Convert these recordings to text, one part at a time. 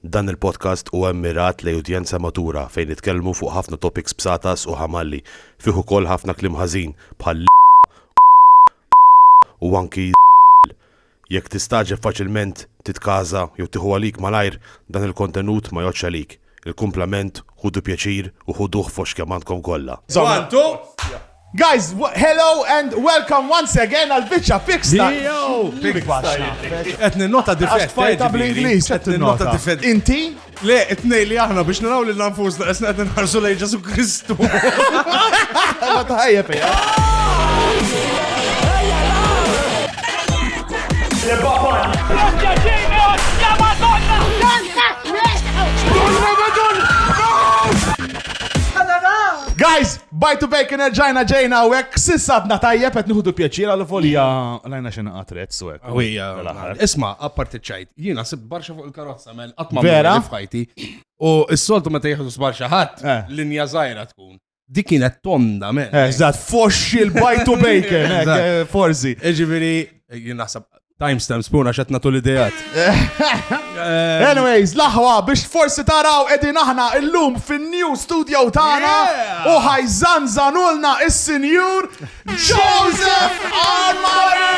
Dan il-podcast huwa mmirat lejn udjenza matura fejn nitkellmu fuq ħafna topics bsatas u ħamalli, fih ukoll ħafna kliem ħażin bħal l, u anki z, jekk tistagħġeb faċilment titkaża jew tieħu għalik malajr dan il-kontenut ma jgħoddx għalik, il-kumplament ħudu pjaċir u ħuduh fost kemm għandkom kollha. One, two. Guys, hello and welcome once again għal biċċa fix ta' Qed ninnota difett fajta bl-Ingliż qed ninnota difett. Inti? Le, it-tnej li aħna biex naraw lil nfusna qed qed nħarsu lejn Ġesu Kristu. Ma taħajja fejja. Guys, Bite to bacon erġajna ġejna u hekk sissa għadna tajjeb qed nieħdu pjaċir għal volja lajna xi naqgħat rezz u hekk. Ewija, isma' apparti ċajt, jiena sib barxa fuq il-karozza mel qatt ma vera f'ħajti. U s-soltu meta jieħdu sbarxa ħadd, eh. linja żgħira tkun. Dik kienet tonda men. Eżatt, eh, foxxi l-bite to bacon, eh, forsi. Ġifieri, jien naħseb Timestamps puna xat natu l-idejat. Eh, Anyways, laħwa biex forsi taraw edin aħna illum fin-new studio tagħna u ħajżan zanulna is-sinjur Joseph Armari!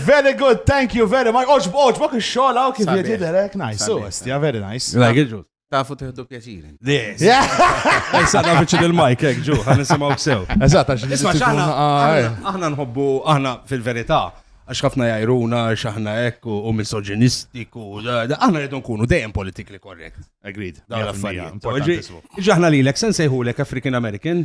Very good, thank you very much. Oġb, oġb, ok xogħol hawn kif Sabiħ. jidher hekk nice. So, Sabiħ. yeah, very nice. Like it, Jules. Tafu teħdu pjaċir. Yes. Issa da biċċi il-mike, ek, ġu, għan nisimaw sew. Eżat, għax nisma xaħna. Aħna nħobbu, aħna fil-verità, għax ħafna jajruna, xaħna ek, u misoginistiku, aħna rridu nkunu dejjem politically correct. Agreed. Dawn l-affarijiet. Ġaħna li l-ek, sen sejħu l-ek African American,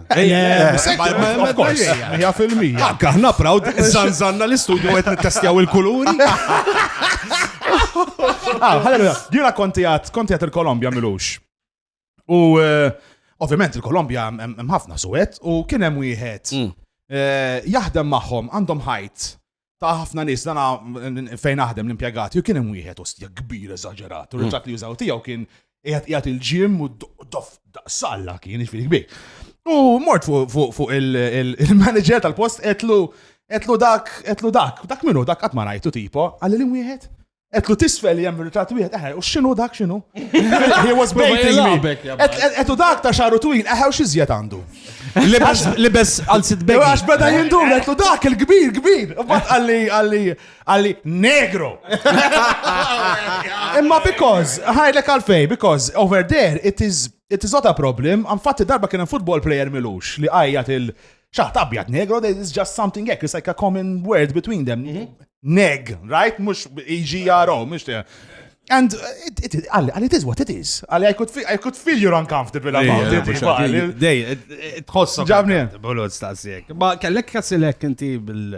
Of course, 100%. Anka aħna proud, zanzanna l-istudju għet nittestjaw il-kuluri. Ah, Halleluja, jina konti għat, konti għat il-Kolombja milux. U eh, ovvjament il-Kolombja hemm ħafna suwet u kien hemm wieħed Mm. eh, jaħdem magħhom għandhom ħajt ta' ħafna nies dana fejn aħdem l-impjegati u kien hemm wieħed ostja kbir eżaġerat. U dak li jużaw tiegħu kien jgħat il-ġim u dof salla kien iġfiri kbir. U mort fuq il-manager tal-post etlu etlu dak, etlu dak, dak minnu, dak għatma rajtu tipo, għalli li wieħed. Etlu tisfel li jemmu ritrat wieħed, eħe, u xinu dak xinu? He was baiting me. Etlu dak ta' xaru twil, eħe, u xizjet għandu. Libes għal sit bejn. Għax beda jindur, etlu dak il-kbir, kbir. U bat għalli, għalli, għalli, negro. Imma because, ħajlek għalfej, because over there, it is, it is not a problem. Għamfatti darba kien football player milux li għajjat il- Xaħt abjad negro, there is just something hekk, it's like a common word between them. Mhm. Neg, right? Mux EGRO, mux te. And uh, it, it, għalli, għalli it is what it is. Għalli, I could feel, I could feel you're uncomfortable about it. għalli. Dej, tħossok. Ġabni. Bulot stasjek. Ma kellek kasilek inti bil-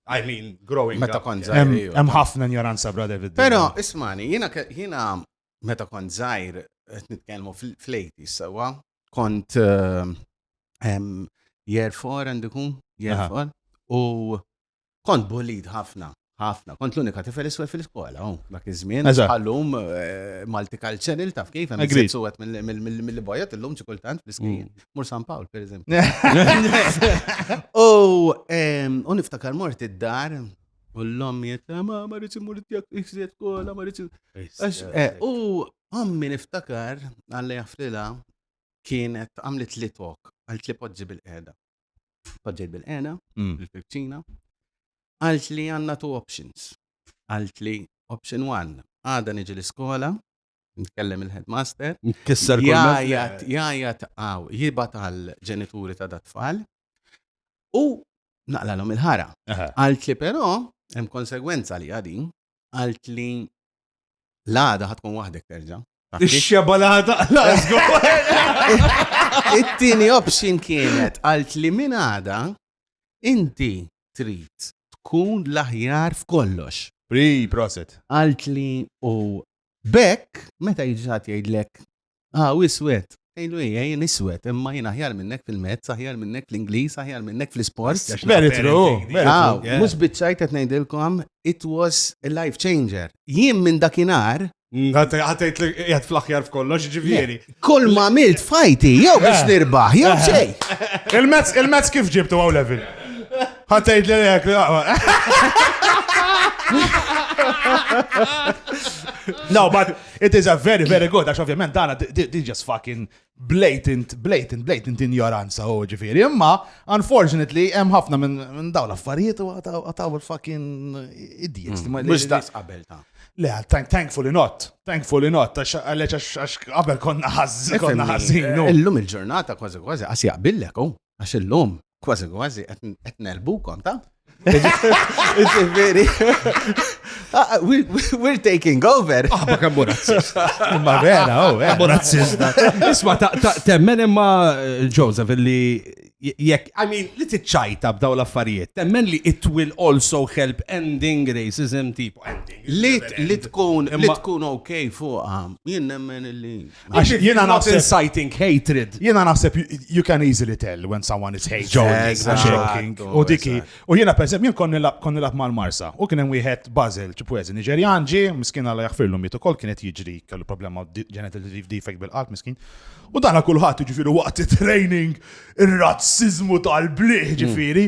I mean, growing Meta up. kont yeah. zaħir. iju. Hemm ħafna ignoranza, bra David. Pero, ismani, jina, ke- jina meta kont zaħir, qed nitkellmu fl-80s, sewa, kont year four għandu kun, year four, u kont bulid ħafna, ħafna. Kont l-unika tifel iswe fil-skola, u oh, dak iż-żmien, għallum eh, multicultural taf kif, għem għed suwet mill-bojot l-lum ċikultant fl-iskin, mm. mur San Pawl, per eżempju. U niftakar mort id-dar, U l-lom jitta, ma marriċ imur tijak iħsiet kola, marriċ. Eh, u Ommi niftakar, Alla jafrilha, kienet għamlet li tok, għalt li poġġi bil-qeda. Poġġejt bil-qeda, mm. bil-fibċina, għalt li għanna two options. Għalt li option one, għada niġi l-iskola, nitkellem il-headmaster. Kisser Jajat, jajat għaw, jibat għal ġenituri ta' dat-tfal. U naqlalhom il-ħara. Għalt li però, hemm konsegwenza li għadin, għalt li l-għada ħatkun waħdek terġa. Ix-xeba l-għada l-għazgu. It-tini option kienet għalt li minn għada inti trid tkun l-aħjar f'kollox. Pri, proset. Għalt li u bekk, meta jġat jgħidlek Ah, hu iswed. Tgħidlu hi, jien iswed, imma jien aħjar minnek fil-mezz, aħjar minnek fl-Ingliż, aħjar minnek fl-isport. Very true. Ah, mhux biċċajt qed ngħidilkom, it was a life changer. Jien minn dakinhar Għatajt li jgħat fl-axjar f'kollox, ġivjeri. Kull ma milt fajti, jew biex eh. nirbaħ, jew eh. xej. Il-mezz, il-mezz kif ġibtu għaw level? Għatajt li jgħak li No, but It is a very, very good, għax ovvjament dana di just fucking blatant, blatant, blatant ignoranza u ġifiri. Imma, unfortunately, hemm ħafna minn daw l-affarijiet u għataw il-fucking idiots. Mux mm. daqs qabel ta' Le, thankfully not. Thankfully not. Għalleċ għax qabel konna ħazz, konna ħazzin. Illum il-ġurnata kważi kważi għas jaqbillek, u oh, għax illum Kważi kważi qed nelbukom ta? Ġifieri. Ah, we're taking over. Ah, ma kemm razzist. Ma vera, oh, eh. kemm razzist. Isma' temmen imma eh, Joseph li jekk, I mean, li tiċċajta b'daw l-affarijiet, temmen li it will also help ending racism tipo ending. Li tkun, li tkun ok fuqa, jien nemmen li. Għax jiena naħseb inciting hatred. Jiena naħseb you can easily tell when someone is hating. Joking. U diki. U jiena per jien konni lab mal-Marsa. U kien hemm wieħed Basil, ċipwezi, Niġerjan ġi, miskin għalla jaħfirlu mitu kol kienet jiġri kellu problema genital defect bil-qalb miskin. U dana kulħadd ġifieri waqt training ir-razzizmu tal-bliħ ġifieri.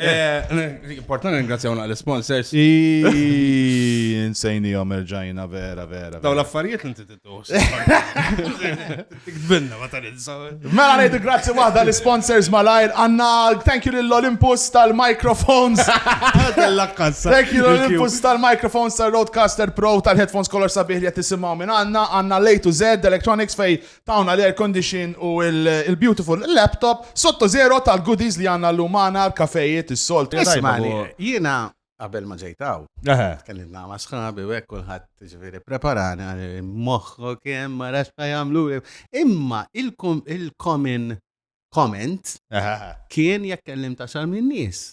Eh, Importanti ringrazzjaw naqli sponsors. Insejni jom erġajna vera vera. Daw l-affarijiet inti tittu. Tikdbinna ma tal Mela ngħidu grazzi waħda l-sponsors malajr għandna thank you lill Olympus tal-microphones. Thank you l-Olympus tal-microphones tal-Roadcaster Pro tal-headphones kolor sabiħ li qed tisimgħu minn għandna għandna Lay to Z Electronics fej Tawna l-air condition u l-beautiful laptop sotto zero tal-goodies li għandna llum magħna, l-kafejiet, is-soltu. Ismagħni, jiena qabel ma ġejt hawn, tkellimt ma' sħabi u hekk kulħadd ġifieri preparani moħħok hemm ma nafx ma jagħmlu. Imma il-common comment kien jekk kellimt għaxar min-nies.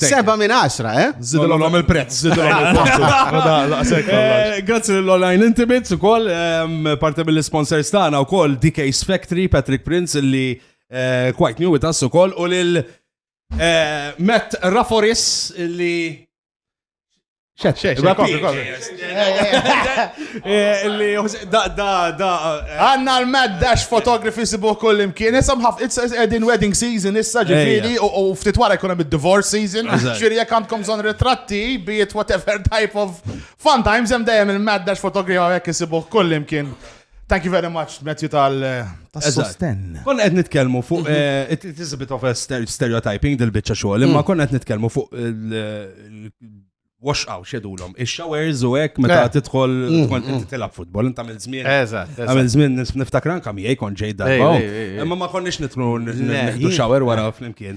Seba minn għaxra, eh? Zidilom il-prezz. Eh, grazzi l-online intimates u koll, ehm, parte mill-sponsors tana u koll DK's Factory, Patrick Prince, li eh, quite new with us u koll, u lil eh, Matt Raforis, li Xed, xed, xed, kopri, kopri. Da, da, da. Għanna l-mad dash photography sibu kull imkien. Issa mħaf, it's edin wedding season issa ġifiri u ftit wara jkun hemm divorce season. Ġifiri jekk għandkom zon ritratti, be it whatever type of fun times hemm dejjem il-mad dash photography għek isibu kull imkien. Thank you very much, Matthew, tal-sostenn. Eh, konna qed nitkellmu fuq, mhm. eh, it is a bit of a stereotyping dil-bicċa xogħol, imma mm. konna qed nitkellmu fuq wash out xedulom. Ix-showers u hekk meta eh. tidħol mm, tkun mm. inti tilab futbol, inta mill żmien. Eżatt. Għamil żmien niftakran kam jgħid kon ġej darba. Imma ma konniex nitlu nitlu shower wara flimkien.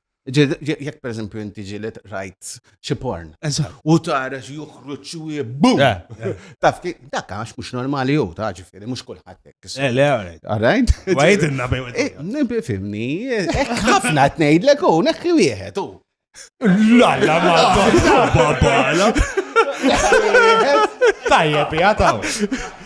Jekk per eżempju inti ġilet rajt xi porn. U tara xi joħroġ xi bum. Taf dak għax mhux normali jew ta' ġifieri mhux kulħadd hekk. Eh, le, all right. Wajt inna bejn. Eh, Fimni, hekk ħafna tnejdlek u hekk wieħed u. La la ma babala. Tajjeb, jgħataw.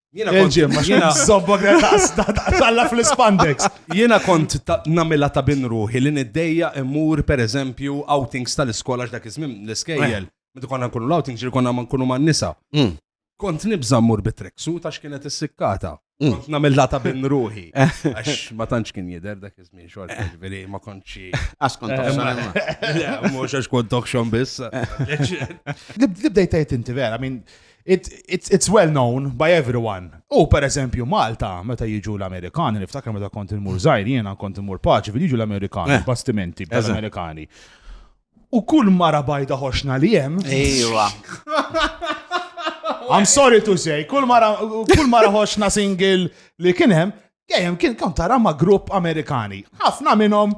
Jiena kont ġim, ma xena zobba talla fl-spandex. Jiena kont namila ta' bin ruħi li niddejja immur per eżempju outings tal-iskola x'dak iżmim l-iskejjel. Meta konna nkunu l-outings ġir konna ma nkunu man nisa. Mm. Kont nibża mmur bi treksu ta' x'kienet is-sikkata. Mm. Kont namilha ta' bin ruħi. Għax ma tantx kien jidher dak iżmim xorta eh. ġifieri ma kontxi. Għax kont eh, toħxon. Mhux għax kont toħxon biss. Li bdejt inti vera, minn It's well known by everyone. U per eżempju Malta, meta jiġu l-Amerikani, niftakar meta kont il-mur zaħir, jiena kont il-mur paċi, jiġu l-Amerikani, eh. bastimenti, l-Amerikani. U kull mara bajda ħoxna li jem. Ejwa. I'm sorry to say, kull mara, kull mara ħoxna single li kienem, kienem kien kont tara ma' grupp Amerikani. ħafna minnhom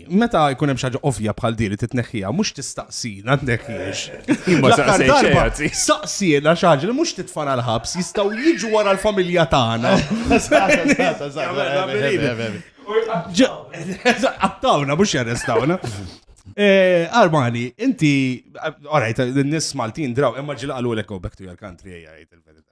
Meta jkun hemm xaġa ovvja bħal din li titneħħiha, mhux tistaqsina tneħħiex. Imma darba staqsina xaġa li mhux titfana l-ħabs jistgħu jiġu wara l-familja tagħna. Għattawna, mhux jarrestawna. Eh, Armani, inti, orajt, n-nis Maltin draw, imma ġilaqalu l-ekko back to your country, jgħajt il-verita.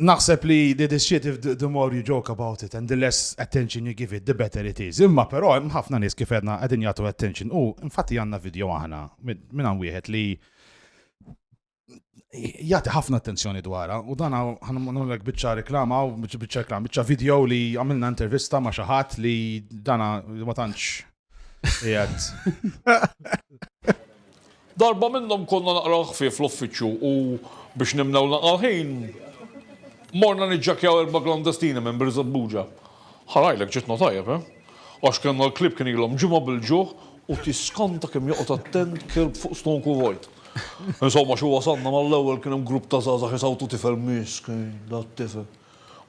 Naħseb li the this shit if the more you joke about it and the less attention you give it the better it is. Imma però hemm ħafna nies kif għedna qegħdin jagħtu attention u infatti għandna video aħna minn hawn wieħed li jgħati ħafna attenzjoni dwarha u dan ħanulek biċċa reklama u biċċa reklama, biċċa video li għamilna intervista ma' xi ħadd li dana ma tantx Jgħat. Darba minnhom konna naqraw ħfief l-uffiċċju u biex nimnew naqal ħin morna niġġakjaw erba klandestini minn Birza Buġa. Ħarajlek ġitna tajjeb, eh? Għax kellna l-klib kien ilhom ġimgħa bil-ġuħ u tiskanta kemm joqgħod attent kelb fuq stonku vojt. Insomma, xi wasanna mal-ewwel kien hemm grupp ta' żgħażagħ jisawtu tifel misk, da tifel.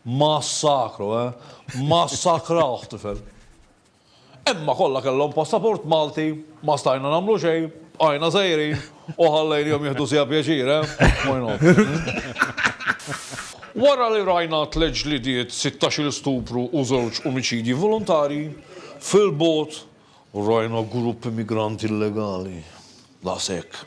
Massakru, eh? Massakrawh tifel. Imma kollha kellhom passaport Malti, ma stajna nagħmlu xejn, bqajna sejrin u ħallejnihom jieħdu siegħa pjaċir, eh? Why not? Wara li rajna tliet ġlidiet, sittax-il stupru u żewġ omiċidji volontarji, fil-bogħod rajna grupp immigranti illegali. Daqshekk.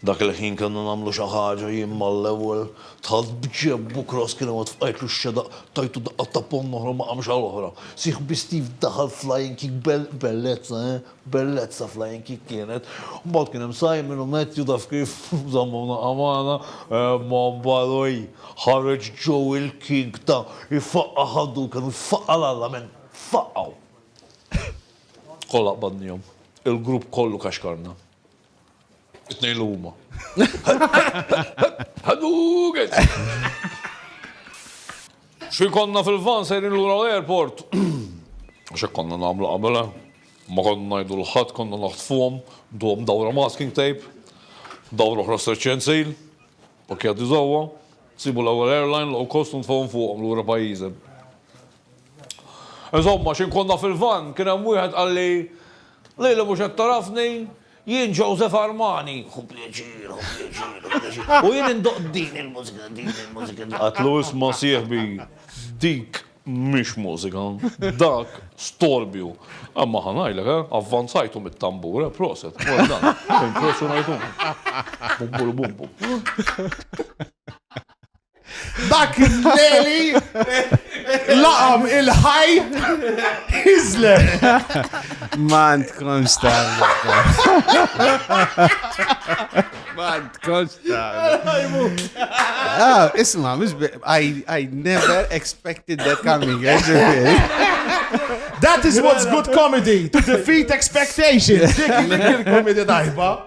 Dak il-ħin kellna nagħmlu xi ħaġa, jien mal-ewwel. Dħalt b'ġebb u Cross kien iwet fqajtlu x-xedaq, tajtu daqqa ta' ponn oħra u ma qamx għal oħra. Sieħ bi Steve daħal flying kick bel, bellezza, eh, bellezza flying kick kienet. Mbagħad kien hemm Simon u Matthew taf kif, żammuna qamgħana, imma mbagħad oj, ħareġ Joe il-king ta' ifaqqa' ħaddu kemm faqqa' l-alla minn, faqqgħu. Kollha qbadnihom. Il-grupp kollu kaxkarna. It-tnejn li huma. Ħaduget! Xi konna fil-van sejrin lura l-airport. Għax konna nagħmlu qabel, eh? Ma konna ngħidu l-ħadd, konna naħtfuhom, duhom dawra masking tape, dawra oħra stretch and seal, pakkjati żewwa, sibu l-ewwel airline low cost u ntfgħuhom fuqhom lura pajjiżem. Insomma, xi nkun naf il-vann, kien hemm wieħed qalli, Lili mhux qed tagħrafni? Jien Joseph Armani! Hu pjaċir, hu pjaċir, hu pjaċir. U jien indoqq din il-mużika, din il-mużika, din. Għedtlu, Isma' sieħbi, dik mhix mużika, dak storbju. Imma ħa ngħidlek, eh, avvanzajthom it-tambur, eh, proset, well done, impressjonajthom. Bum bulu bum bum. Dak il-leli laqam il-ħaj izler. Man tkun star. Man tkun star. Ah, isma, mux I, I never expected that coming. That is what's good comedy, to defeat expectations. Dik il-komedi dajba.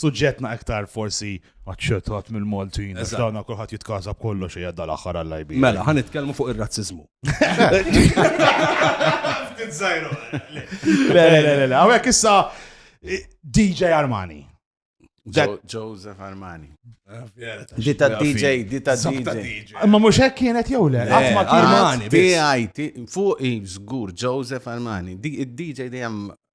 suġġettna iktar forsi aċċettat mill-Maltin. Eżatt. Dawna kulħadd jitkasa b'kollox hija dal-aħħar għall-IB. Mela, ħan nitkellmu fuq ir-razzizmu. Ftit żgħiru. Le, le, le, le, le. Hawnhekk issa eh, DJ Armani. Dak- Jo- Joseph Armani. Di ta' DJ, di ta' Sabta DJ. DJ. Imma mhux hekk kienet jew le? Le, Qatt ma kienet. Armani, biss. TIT, fuq i żgur Joseph Armani. Di- Id-DJ dejjem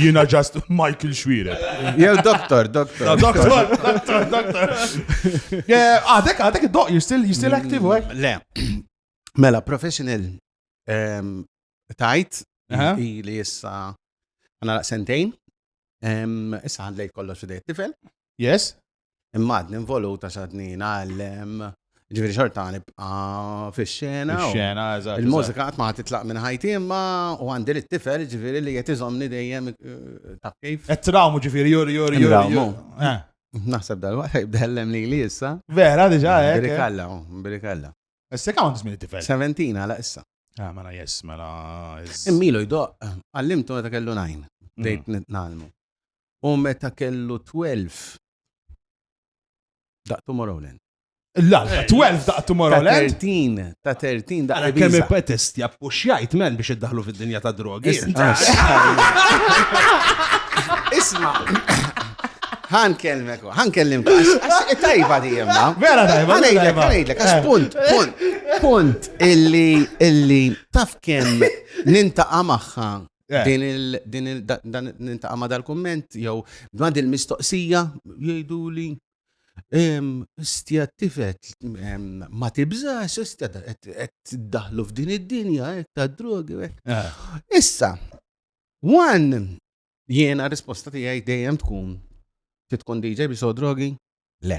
Jina just Michael Xwire. Jew doktor, doktor. Doktor, doktor, doktor. Għadek, għadek id-doq, you're still, you're still active, right? Mm, le. Mela, professional um, tajt, li jissa għana sentejn, issa għandlej kollox fidej t-tifel. Yes? Imma għadni involuta xadni għallem. Ġviri xorta nibqa fil-xena. Xena, eżatt. Il-mużika għat ma titlaq minn ħajti imma u għandi li t-tifel ġviri li jetizomni dejjem eh, ta' kif. Et trawmu ġviri jur jur jur. Trawmu. Eh. Naħseb dal-waqt jibdellem li li issa. Vera, diġa, eh. Birikalla, birikalla. Issa kam għandis minn tifel? 17 għala issa. Ah, mela jess, mela. Immilu jdoq, għallimtu għata kellu najn. Dejt mm. nitnalmu. U meta kellu 12 daqq Tomorrowland. La, 12 daqq Tomorrowland. Ta' 13, ta' 13 daqq. Għara kemm ipetest jappuxjajt men biex iddaħlu fid-dinja ta' drogi. Isma. Għan kelmek, għan kellim. Tajba di jemma. Vera tajba. Għan ejdlek, għan ejdlek, għax punt, punt, punt, illi, illi, taf kem nintaqa maħħa Eh. Din il din il dan nintaqa' ma dal-kumment jew ma din mistoqsija jgħidu li Istja tifet ma tibżax, istja qed daħlu f'din id-dinja hekk ta' drogi. Eh. Issa, one jiena risposta tiegħi dejjem tkun titkun DJ bi so drogi? Le.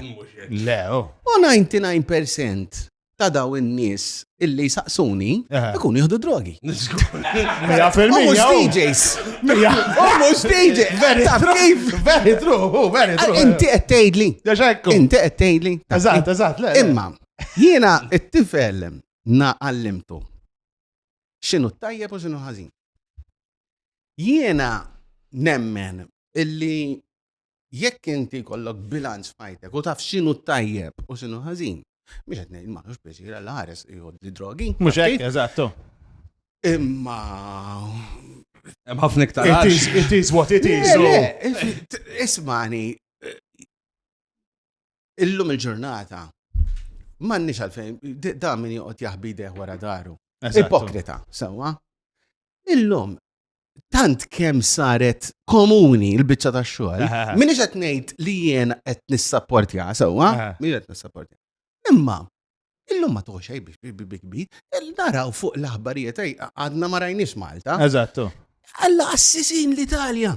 Le, oh. U 99% ta' daw in-nies illi saqsuni eh. ikun jieħdu drogi. Mija fil-mija. Oh. DJs. Mija. Oh, mhux DJ. Very true. Very true. Oh, very true. Ah, inti qed tgħidli. Inti qed tgħidli. Eżatt, eżatt, le. Imma jiena t-tifel na għallimtu. X'inhu tajjeb u x'inhu ħażin. Jiena nemmen illi Jekk inti jkollok bilanċ f'ħajtek u taf x'inhu t-tajjeb u x'inhu ħażin, mhux qed ngħid m'għandux pjaċir għal ħares jgħod li drogi. Mhux hekk, eżattu. Imma hemm ħafna iktar. It is what it is. Ismani, illum il-ġurnata, m'għandniex għalfejn, da min joqgħod jahbi deħ wara daru. Ipokrita, sewwa. Illum, tant kemm saret komuni l-biċċa ta' xogħol. Minix qed ngħid li jien qed nissapportja sewwa, min qed nissapportja. Imma illum ma toħxej biex bikbi, naraw fuq l-aħbarijiet għadna ma rajniex Malta. Eżattu. Alla assisin l-Italja.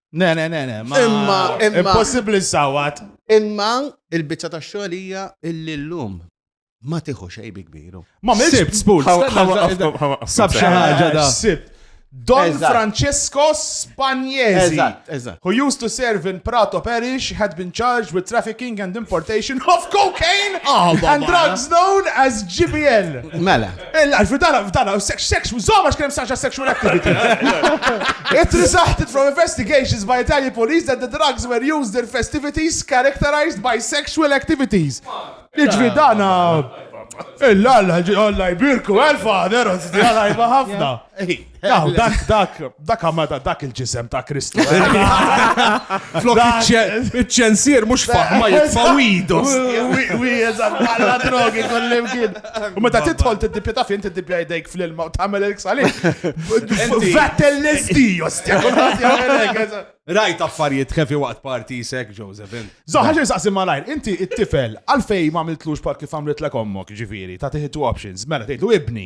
Ne, ne, ne, ne. Imma, imma. Impossibli sawat. Imma il-bicċa ta' xogħolija illi l-lum ma tiħu xej bi kbiru. Ma mill-sibt spul. Sab xi ħaġa da. Sibt. Don Francesco Spagnesi, who used to serve in Prato Parish, had been charged with trafficking and importation of cocaine oh, and drugs known as GBL. Mela. Il-life, f'dana, f'dana, sex, sex, zoma x'kien saċa sexual activities. It resulted from investigations by Italian police that the drugs were used in festivities characterized by sexual activities. Iġvi dana, il-lalla, għalla jbirku, għal-fader, għalla jba ħafna. Daw, dak, dak, dak għamada dak il-ġisem ta' Kristu. Flok iċ-ċensir mux faħma jitfa widu. Wijezan, għalla drogi kollim kien. U meta titħol t-dipja ta' fin t-dipja jdejk fl-ilma u tamel il-ksali. Vettel l-SD, ostja. Rajt affarijiet kefi waqt parti sek, Josephine. Zoħħa xie saqsi malajr, inti it-tifel, għalfej ma għamiltlux par kif għamlet l ommok, ġifiri, ta' tiħitu options, mela tgħidlu ibni,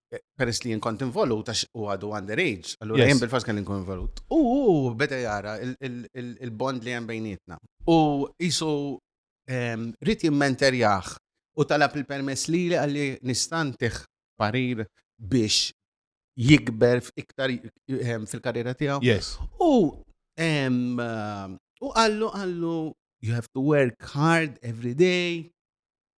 peress li jien kont involut għax u għadu underage, allura jien bil-fors kien inkun involut. U beda jara il-bond li hemm bejnietna. U jisu ehm, rrit jimmenterjaħ u talab il-permess li li għalli nistantiħ parir biex jikber iktar ehm, fil-karriera tiegħu. Yes. U ehm, u għallu għallu you have to work hard every day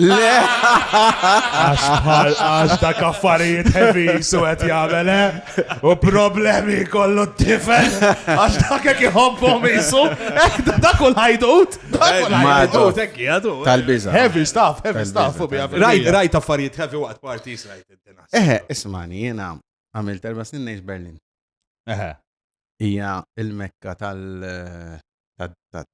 Le! Għax bħal għax da kaffarijiet heavy su għet jgħamele eh? u problemi kollu t-tifel għax da kek jħobbom jisu eh, da kull ħajdut tal-biza heavy stuff heavy stuff u bija rajt rajt affarijiet heavy waqt party rajt eħe ismani jena għamil terba snin neħx Berlin eħe ija il-mekka tal-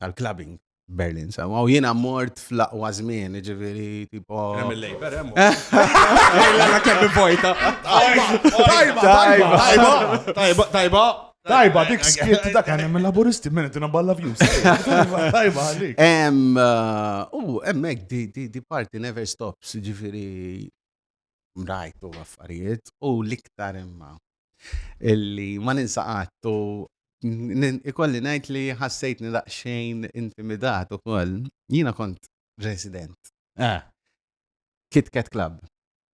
tal-clubbing Berlin, sa. U jiena mort fl-aqwa żmien, ġifieri tipo. Hemm il-labor, hemm. Ejla kemm vojta. Tajba, tajba, tajba, tajba. Tajba, dik skiet dak għan minn laburisti minn tina balla views. Tajba, għalik. Em, u emmek di parti never stops, ġifiri mrajtu affarijiet u l-iktar imma illi ma ninsa għattu ikolli najt li ħassejt nidaqxejn intimidat u koll jina kont resident. Eh. Kit Kat Club.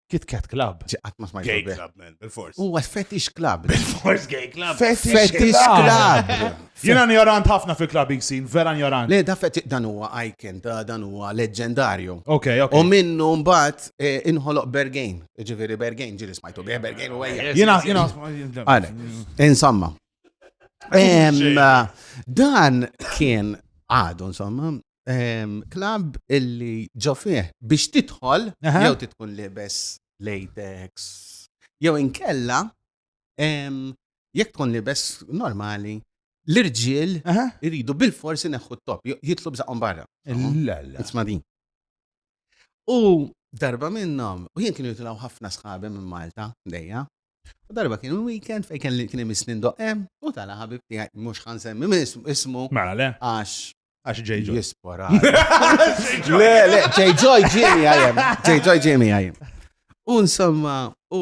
Kit Kat Club. Ġiqat ma smajtu. Gay Club, man, bil-fors. U għas Fetish Club. Bil-fors Gay Club. Fetish Club. Jien injorant ħafna fil-clubbing scene, vera injorant. Le daf qed dan huwa icon ta' dan huwa leġġendarju. Ok, ok. U minnu mbagħad inħoloq Bergain, jiġifieri Bergain ġieli smajtu bih Bergain u ejja. Jiena jiena Għalhekk. Insomma. Dan kien għadu insomma klabb illi ġo fih biex tidħol jew titkun libes latex jew inkella Jekk tkun libes normali, l-irġiel iridu bil-forsi neħħu t-top, jitlu bżaqhom barra. Isma' din. U darba minnhom, u jien kienu jitilgħu ħafna sħabi minn Malta dejja. U darba kien il-weekend fejn kelli kien imisni ndoqqem u tala ħabib tiegħi mhux ħan semmi minn ismu. Mela le. Għax. Għax J. Joy. Jispora. Le, le, J. Joy ġiemi għajem. J. Joy ġiemi għajem. U insomma, u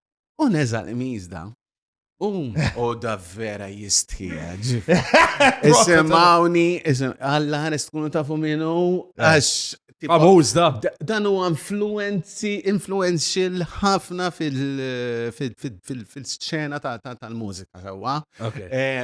U neżal imizda. U u da vera jistħieġ. Isimawni, isim, għalla ħares tkunu tafu minnu, eh. għax. Famuż da. Dan u influenzi, influential ħafna fil-sċena tal-mużika, sewa. Eh,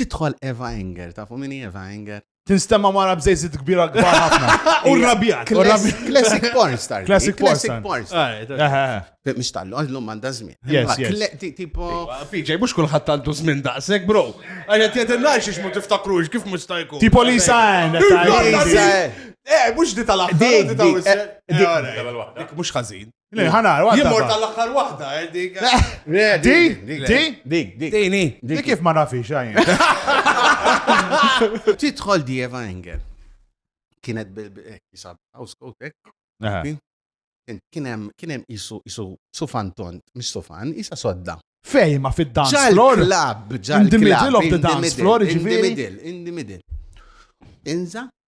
Tidħol Eva Enger, tafu min hi Eva Enger? Tinstemma mara bżejżit kbira kbar ħafna. U rrabjat. Classic porn star. Classic porn star. Mux tallu, għallu manda zmin. Yes, yes. Tipo. PJ, mux kullħat tallu zmin daqsek, bro. Għajja t-jedin naċ ix mu tiftakrux, kif mux tajku. Tipo li sajn. Eh, mux di tal-axħar. Dik, mux ħazin. Le, ħana, għadda. Jimur ba. tal-axħar wahda, eh, dik. Le, Di, di, dik, dik. Dini. Di kif ma nafix, għajn. Tidħol di Eva Engel. Kienet bil-kisab, house coat, ek. Kienem, kienem isu, isu, su fanton, mis su fan, isa sodda. Fej, ma fid-dance floor. Ġal-klab, ġal-klab. In the middle of the dance floor, ġifiri. In the middle, in the middle. Inza,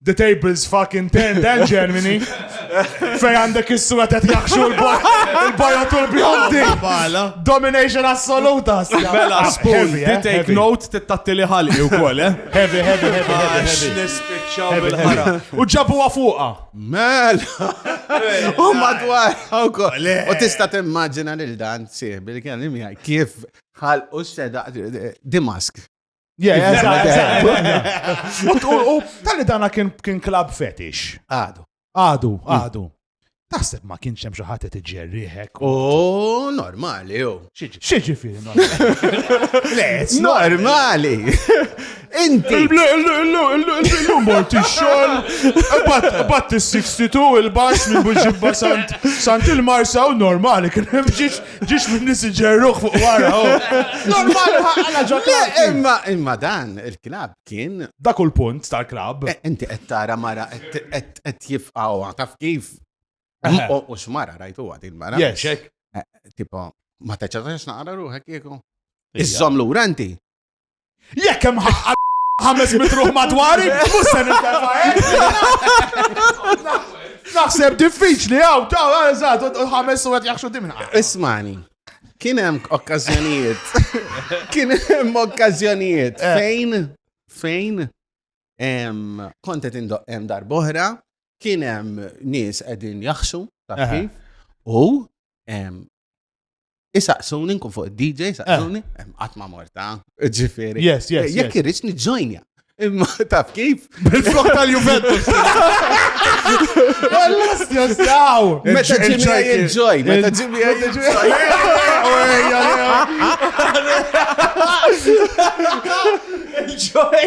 The table's fucking ten, dan Germany. Fej għandek is-sura ta' jaħxu l-bajot u l-bjondi. Domination assoluta. Bella, spoon, eh? take note, tittatti li ħalli u kol, eh? Heavy, heavy, heavy, ah, heavy. Nispiċċaw bil-ħara. U ġabu għafuqa. Mel. U madwar. U tista timmaġina lil dan, sieħ, bil-kellim kif ħal u s-seda, dimask. Tali dana kien klab fetish. Għadu. Għadu, mm. għadu. Taħseb ma kienx hemm xi ħadd qed iġerriħek. Oh, normali jew. Xiġi fih normali. Inti. Il-lum mort ix-xogħol. Batt is-62 il-baxx minn buġibba sant il-marsa u normali kien hemm ġiex Ġiex minn nis ġerruħ fuq wara. Normali ħaqqala ġo klab. Imma imma dan il-klab kien. Dak u l-punt tal-klab. Eh, inti qed tara mara qed jifqgħu taf kif. U x'mara rajtu għad il-mara. Jexek. Eh, tipo, ma teċċatax naqra ruħek jieku. Iżżom lura inti. Jekk hemm ħaqqa ħames mitruħ madwari, mhux se nittefa' Naħseb diffiċli hawn, taw eżatt, ħames u qed jaħxu dimna. Ismani. Kien hemm okkażjonijiet. Kien hemm okkażjonijiet eh. fejn fejn kontet indoq hemm darbohra, kien hemm nies qegħdin jaħxu, taf eh. kif? U Isaqsuni nkun fuq id-DJ, isaqsuni, eh. qatt ma morta. Ġifieri. Yes, yes. Eh, jekk irridx niġġojnja. Imma taf kif? Bil-flok tal-Juventus. Għallas jastaw! Meta ġimmi għaj il-ġoj, meta ġimmi għaj il-ġoj. Il-ġoj!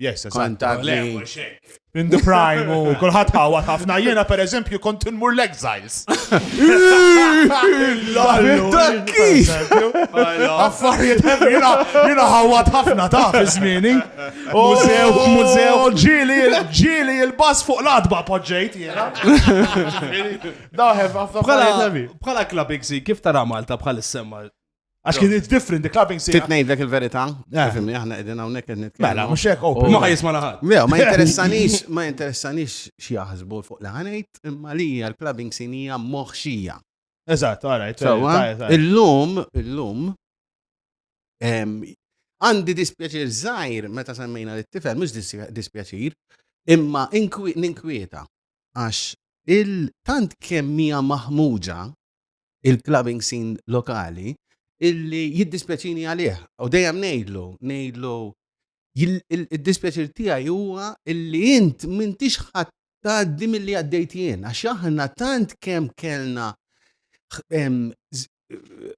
Yes, Kontatni. In the prime, u kullħat ħawat ħafna jena per eżempju kont nmur l-exiles. Affarijiet jena jena ħawat ħafna ta' bizmini. Mużew, oh, mużew. Oh, ġili, ġili il-bas fuq l-adba poġġejt jena. Daħef, Bħala klabbing si, kif tara Malta bħal semma Għax kien it's different, the clubbing sejra. Titnejt dak il-verita, eh. fimni, aħna edin għawnek għed nitkellem. Mela, mux hekk open. Oh. Ma jisma laħat. Mela, ma interessanix, ma interessanix xieħazbu fuq laħanajt, imma li l-clubbing sinija moħxija. Eżat, għarajt. Il-lum, il-lum, għandi dispjaċir zaħir meta semmejna l-tifel, mux dispjaċir, imma ninkwieta, għax il-tant kemmija maħmuġa il-clubbing scene lokali illi jiddispjaċini għalih. U dejjem ngħidlu, ngħidlu id-dispjaċir tiegħi huwa illi int m'intix ħadd tgħaddi milli għaddejt jien għax aħna tant kemm kellna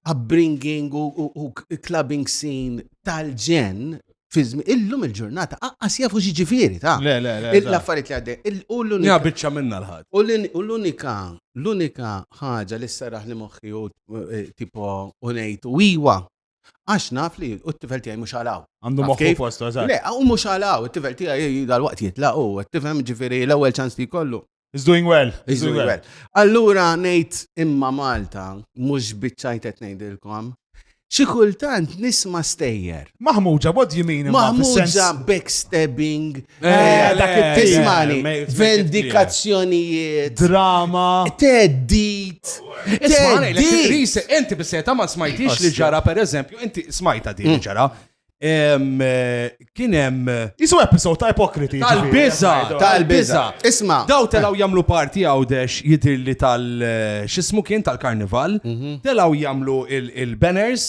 upbringing u clubbing scene tal-ġen fi żmien illum il-ġurnata aqqas jafu x'ġifieri ta' Le, le, le. il- l-affarijiet li għaddej. Il- U Ja l-unika biċċa minna l-ħadd. u l- u l-unika l-unika ħaġa li sserraħ li moħħi u eh, tipo u ngħid u iwa għax naf li u t-tifel tiegħi mhux għalaw. Għandu Taf moħħu kif? postu, eżatt. Le, u mhux għalaw, it-tifel tiegħi dal-waqt jitlaq u qed tifhem ġifieri l-ewwel ċans li jkollu. He's doing well. He's doing well. Allura ngħid imma Malta mhux biċċajt qed ngħidilkom. Xi kultant nisma stejjer. Maħmuġa bod jimin. Maħmuġa backstabbing. Eh, eh, dak eh, it-tismani. Vendikazzjonijiet. Drama. Teddit. Teddit. Inti bisseta ma smajtix li ġara per eżempju, inti smajta din mm. ġara. Kien hemm. Isu episod ta' ipokriti. Tal-biża, tal-biża. Isma. Daw telaw jagħmlu parti għawdex jidirli tal xismu kien tal-karnival, mhm. telaw jagħmlu il-banners,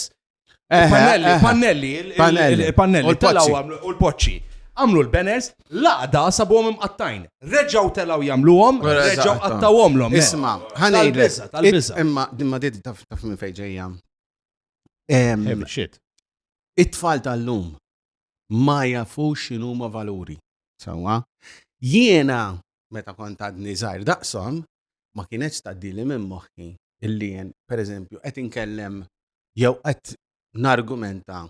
eh, eh, pannelli, eh, pannelli, pannelli, u l-poċċi. Għamlu l-banners, laqda sabuhom imqattajn. Reġaw telaw jagħmluhom, reġaw qattawhom l-om. Isma, ħanejlek. Tal-biża, tal-biża. Imma dimma dit taf minn fejn ġejja. It-tfal tal-lum ma jafux xinu ma valuri. Sawa, jiena meta kont għadni żgħir daqshom ma kienetx tgħaddili minn moħħi illi jien pereżempju qed inkellem jew qed nargumenta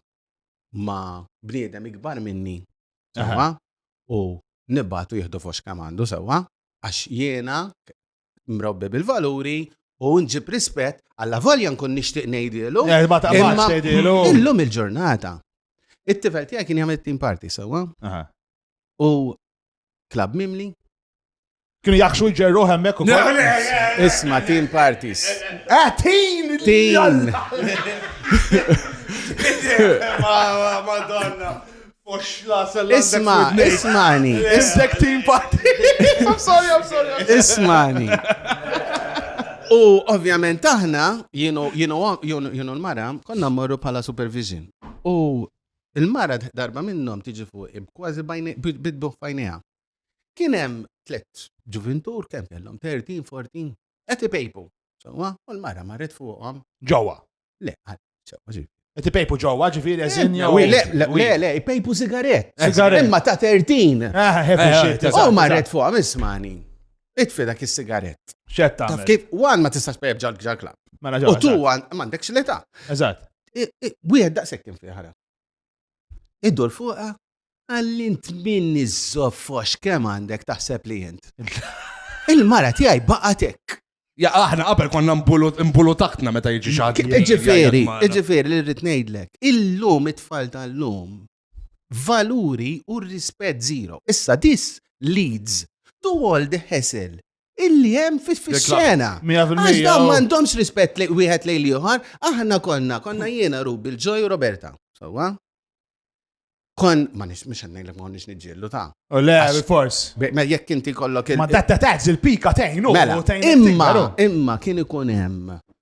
ma' bniedem ikbar minni u nibgħatu jieħdu foxka m'għandu sewwa għax jiena mrobbi bil-valuri u nġib rispett għalla volja nkun nixtieq ngħidilu. Eh, ma taqbax ngħidilu. Illum il-ġurnata. It-tifel tiegħek kien jagħmel team party sewwa. U klab mimli. Kienu jaħxu jġerru hemmek u Isma team parties. Ah, team! Team! Madonna! Isma, ismani. Is-sektin party. I'm sorry, I'm sorry. Ismani. U ovvjament aħna, jienu l-mara, konna morru pala supervision. U il-mara darba minnom tiġi fuq kważi bidbu fajnija. Kienem tlet ġuvintur, kem kellom 13, 14, għeti pejpu. U l-mara marret fuqom. Ġawa. Le, Qed ipejpu ġewwa ġifieri eżin jew. Le, le, le, le, ipejpu sigarett. Sigarett. Imma ta' 13. Ah, heavy Eh, shit. eh, U marret fuqha mismani. Itfi dak is-sigarett. Xed Taf tagħmel. kif, wan ma tistax pejb ġal ġal klab. Mela U ġewwa. tu wan m'għandekx l-età. Eżatt. I- i- Wieħed daqshekk kien fih ħara. Iddur fuqa, għallint min iż-żoffox kemm għandek taħseb li jent. Il-mara tiegħi baqatek. Ja, aħna qabel konna mbulu taħtna meta jiġi xaħat. Ġifiri, ġifiri li rrit ngħidlek, illum it-tfal tal-lum valuri u rispett zero. Issa dis leads to all the hassle illi hemm fis-sena. Għax dawn oh. m'għandhomx rispett li wieħed lejn ieħor, aħna konna, konna jiena Rubi l-ġoj Roberta. Sewwa? Kon, ma nix, mux għannajlek ma nix nġillu ta' U le, fors. Ma jekk inti kollok il- Ma datta taħġ il-pika tejnu. Mela, imma, imma kien ikun hemm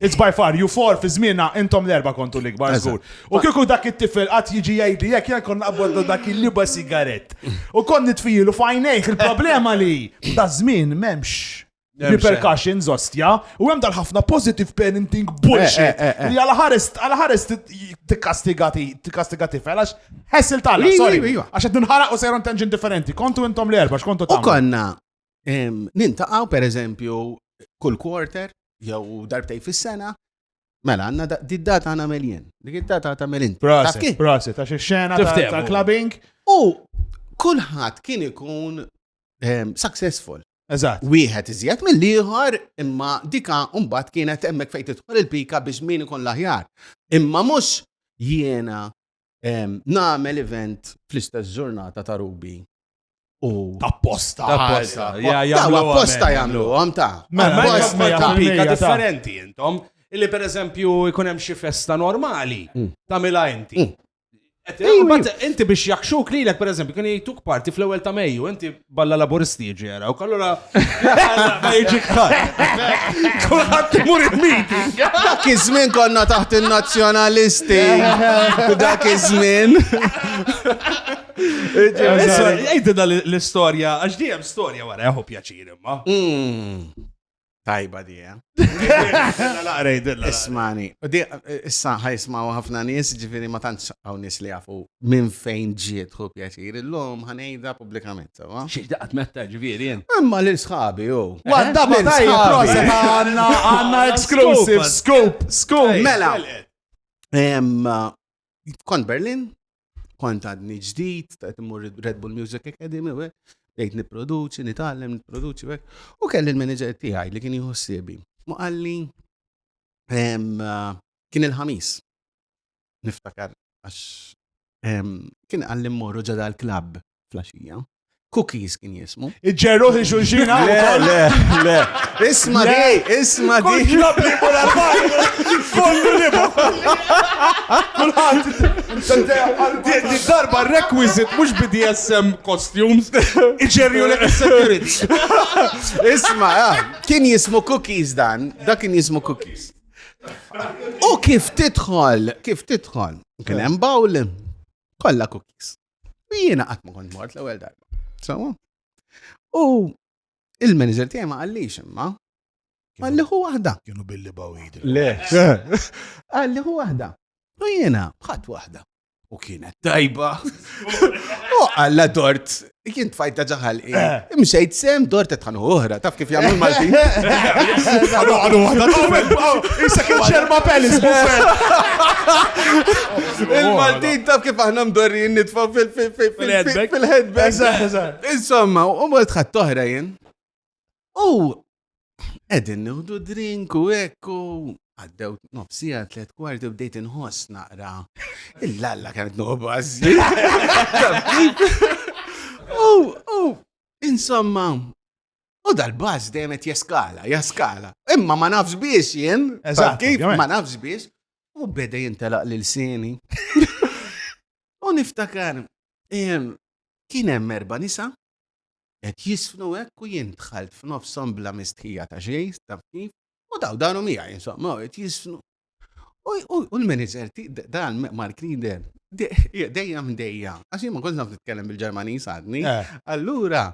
It's by far, you four fi zmina intom l-erba kontu l-ikbar zgur. U kieku dak it-tifel għat jiġi jgħidi jek jgħan konna għaboddu dak il-liba sigaret. U kon nitfijilu fajnejk il-problema li da zmin memx repercussions ostja u hemm dal ħafna positive parenting eh, bullshit eh, eh, li għal ħares għal ħares tikkastigati tikkastigati felax ħessil tal sorry għax qed ninħaraq u sejron tenġin differenti kontu intom l-erba x'kontu ta' konna Nintaqgħu pereżempju kull quarter jew darbtej fis-sena Mela, għanna di data għana meljen. Dik data għata meljen. Proset, proset, għax il-xena ta' clubbing. U kullħat kien ikun ehm, successful. Eżatt. Wieħed iżjed mill-ieħor imma dika mbagħad kienet hemmhekk fejn tidħol il-pika biex min ikun l-aħjar. Imma mhux jiena Nagħmel event fl-istess ġurnata ta' Rubi u. Apposta. Apposta. Apposta jagħmlu għam ta' mela, mela, pika differenti intom. Illi per eżempju jkun hemm xi festa normali mm. ta' mila inti. Mm. Inti biex jakxuk lilek per eżempju kien jgħiduk parti fl-ewwel ta' Mejju, inti balla laburisti jiġi jarawk, allura ma jiġi kħar. Kulħadd imur il-meeting. Dak iż-żmien konna taħt in-nazzjonalisti. Dak iż-żmien. Ejtina l-istorja, għax dijem storja wara jaħu pjaċir imma. Hmm. Tajba di, eh? Ismani. Issa ħajsmaw ħafna nis, ġifiri ma tantx għaw nis li għafu minn fejn ġiet hu pjaċir. Illum ħanejda publikament, sawa? Xiex daqat metta ġifiri jen. Imma li sħabi, u. Għadda ma tajja, prosa għanna għanna exclusive, scoop, scoop. Mela. Kont Berlin, kont għadni ġdid, ta' timur Red Bull Music Academy, u bdejt niproduċi, nitgħallem, niproduċi, u kelli l-manager tiegħi li kien jħossibi. Mu għalli kien il-ħamis. Niftakar għax kien għalli mmorru ġada l-klab flaxija. Cookies kien jismu. Iġġerruħ li xulxin għaw. Le, le, le. Isma di, isma di. Kull klab li bura kollu li Kulħat. Di darba requisit mux BDSM costumes. Iġġerju li securities. Isma, ah, kien jismu cookies dan. Da kien jismu cookies. U kif titħol, kif titħol. Kien hemm bawl, kolla cookies. U jiena qatt ma kont mort l-ewwel darba. Sawa? U il-manager tiegħi ma qallix imma għalli hu waħda. Kienu billi bawid. Le. Għalli hu waħda. U jiena bħat waħda. U kienet tajba. U għalla dort, kien tfajta ġaħal. Eh. Imxejt sem dort qed tħanu oħra, taf kif jagħmlu l-Maltin. Għadu għadu għadu. Issa kien xerma pelis Il-Maltin taf kif aħna mdorrin nitfa fil-headback. Insomma, u mort ħadd oħra jien. U Edin nħdu drink u ekku, għaddew nofsija tlet kwarti bdejt inħoss naqra. Il-lalla kienet nobazi. U, u, insomma, U dal-bas dejjem qed jeskala, jeskala. Imma ma nafx biex jien, eżatt kif ma nafx biex, u beda jintelaq lil sini. U niftakar, kien hemm erba' nisa Qed jiżfnu hekk u jien dħalt f'nofshom bla mistħija ta' xejn, taf kif, u daw daru miegħi insomma u qed jiżfnu. U l-manager dan Mark Linder dejja mdejja, għax jien ma kontx naf nitkellem bil-Ġermaniż għadni. Eh. Allura,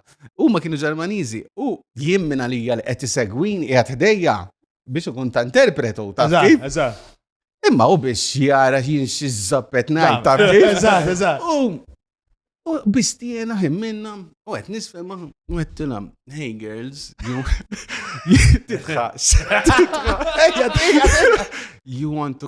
huma kienu Ġermaniżi u jien minn għalija li qed isegwini qiegħed ħdejja biex ikun ta' interpretu, ta' kif? Imma u biex jara jien xi żappet ngħid ta' kif? Eżatt, eżatt. U biex tiena ħin minna, u qed nisfhem u qed tilhom, hey girls, you titħax. You want to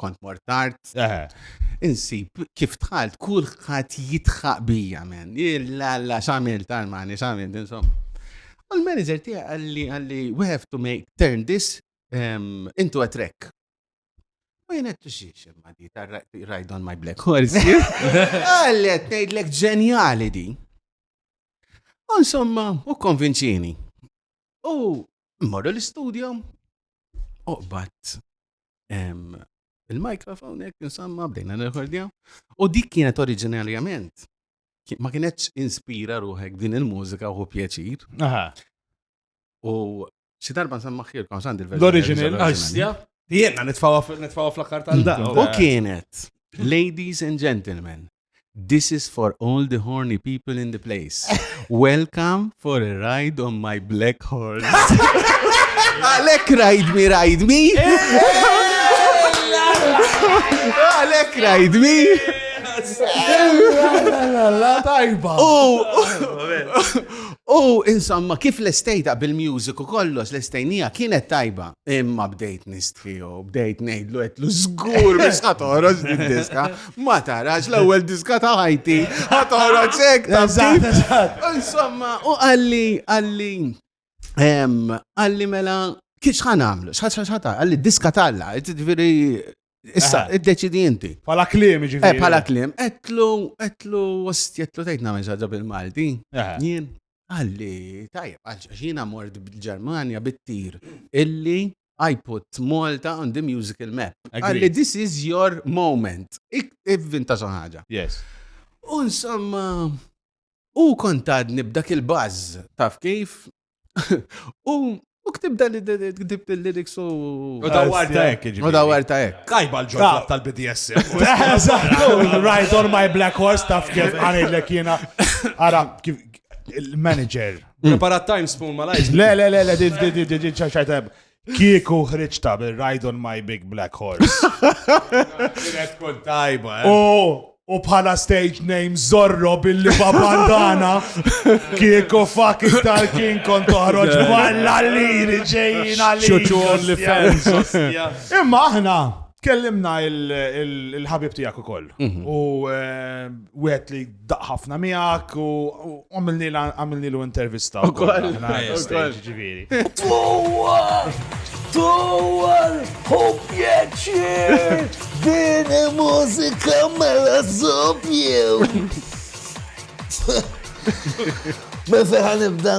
kont mort tard. Insib, kif tħalt, kulħadd jitħaq bija, men. Illa, la, xamil, tal-mani, xamil, insomma. U l-manager tiegħi għalli, għalli, we have to make, turn this um, into a track. U jena t-tuxiex, imma di, ride on my black horse. Għallet, nejdlek ġenjali di. Insomma, u konvinċini. U Morru l-istudio, oqbat il-mikrofon jek nsamma bdejna n-rekordja. U dik kienet oriġinarjament, ma kienetx inspira ruħek din il-mużika u pjaċir. U xi darba nsamma xirkom sandi l-verżjoni. L-oriġinarja. Jena nitfawa fl-akkar tal-da. U kienet, ladies and gentlemen, This is for all the horny people in the place. Welcome for a ride on my black horse. Alek ride me, ride me. Alek ride me. Tajba. Oh, oh, insomma, kif l-estejta bil-music u kollox l-estejnija kienet tajba. Imma bdejt nistħiju, bdejt nejdlu għetlu zgur biex ħatoros diska Ma tarax l-ewwel diska ta' ħajti, ħadd toħroġ hekk ta' Eżatt, eżatt. Insomma, u qalli, qalli, em, qalli mela, kif xħan għamlu, xħata, qalli diska talla, ġifieri, issa, Aha. iddeċidi inti. Pala klim, Eh, ġifieri. pala klim, etlu, etlu, ost, etlu tejt namel ġaġa bil-Malti. Aha. Jien, għalli, tajjeb, għax jiena mort bil-Ġermanja bit-tir illi I put Malta on the musical map. Għalli this is your moment. Ivvinta xi ħaġa. Yes. U insomma, u kontadni b'dak il-buzz, taf kif? U U ktib dan ktib il-lyrics u. U da warta ek. U da warta ek. Kajba l-ġodda tal-BDS. Ride on my black horse taf kif għanillek jena. Ara, il-manager Preparat time spoon ma lajx. Le, le, le, le, di, di, di, di, di, ċaċċajta. Kieku ħriġta bil-Ride on my big black horse. Kienet tkun tajba, eh? U u bħala stage name Zorro billi babandana kieku fucking tal-kin kont toħroġ balla l-liri ġejjin għalli. Xuċu only fans. ostja. Imma aħna kellimna il- il- il-ħabib tijak u koll. U eh, wieħed li daq ħafna miegħek u għamilnilu intervista. Ukoll. Ġifieri. Dwar! Dwar! Hu pjaċir! Din mużika mela żobjew! Ma feħan ibda?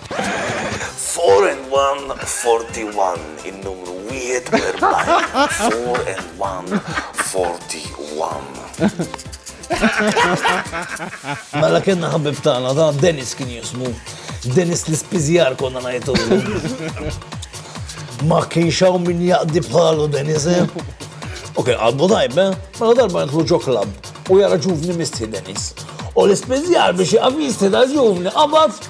Four and one, forty one, in-numru 41. Four and one, forty one. Mela kienna ħabib tagħna ta' Dennis kien jismu. Dennis l-ispiżjar konna ngħidu. Ma kienx hawn min jaqdi bħalu Dennis. Eh? Ok, għadbu tajb, eh? Mela darba jintlu ġo klab u jara ġuvni misti Dennis. U l-ispiżjar biex jaqaf jisti dal-ġuvni qabad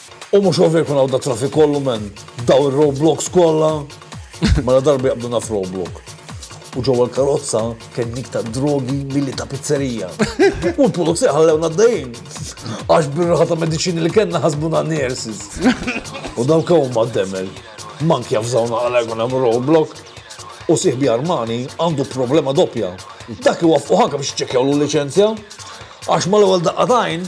U mhux ovvja jkun hawn da traffic kollu men daw ir-roadblocks kollha. Mela darba jaqbdu naf roadblock. U ġewwa l-karozza kien dik ta' drogi milli ta' pizzerija. U l-pulizija ħallewna għaddejjin. Għax bir-raħa ta' mediċini li kellna ħasbuna nurses. U dawk huma d-demel. Mank jafżawna għala jkun hemm roadblock. U sieħbi Armani għandu problema doppja. Dak iwaffqu ħanka biex iċċekkjawlu l-liċenzja. Għax mal-ewwel daqqa t'għajn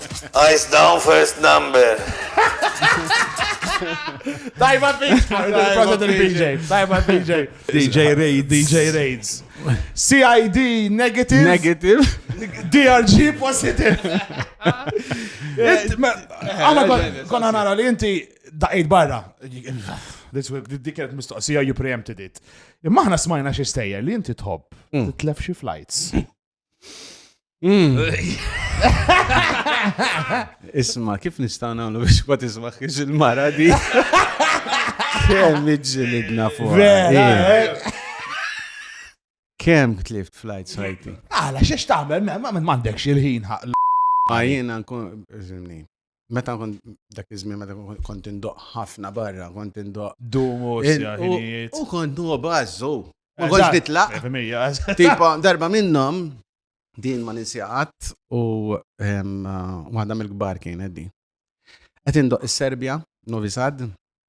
Eyes down first number. Tajba fix, proset il-BJ. Tajba BJ. DJ Raids. DJ Raids. CID negative. Negative. DRG positive. Għana konna nara li inti daqid barra. Dik kienet mistoqsija you preempted it. Imma aħna smajna xi stejjer li inti tħobb mm. titlef xi flights. Mm. Isma, kif nista' nagħmlu biex ma tismaħx il-mara di? Kemm iġġilidna fuq. Eh. Kemm tlift flight sajti? Għala, xiex tagħmel, ma m'għandekx il-ħin ħaq. Ma jiena nkun, meta kont dak iż-żmien meta kont indoq ħafna barra, kont indoq. Dumu, U kont nuqa bażżu. Ma kontx nitlaq. Tipo, darba minnhom din ma ninsjaqat u waħda mill-kbar kienet din. Qed indoq is-Serbja, Novi Sad,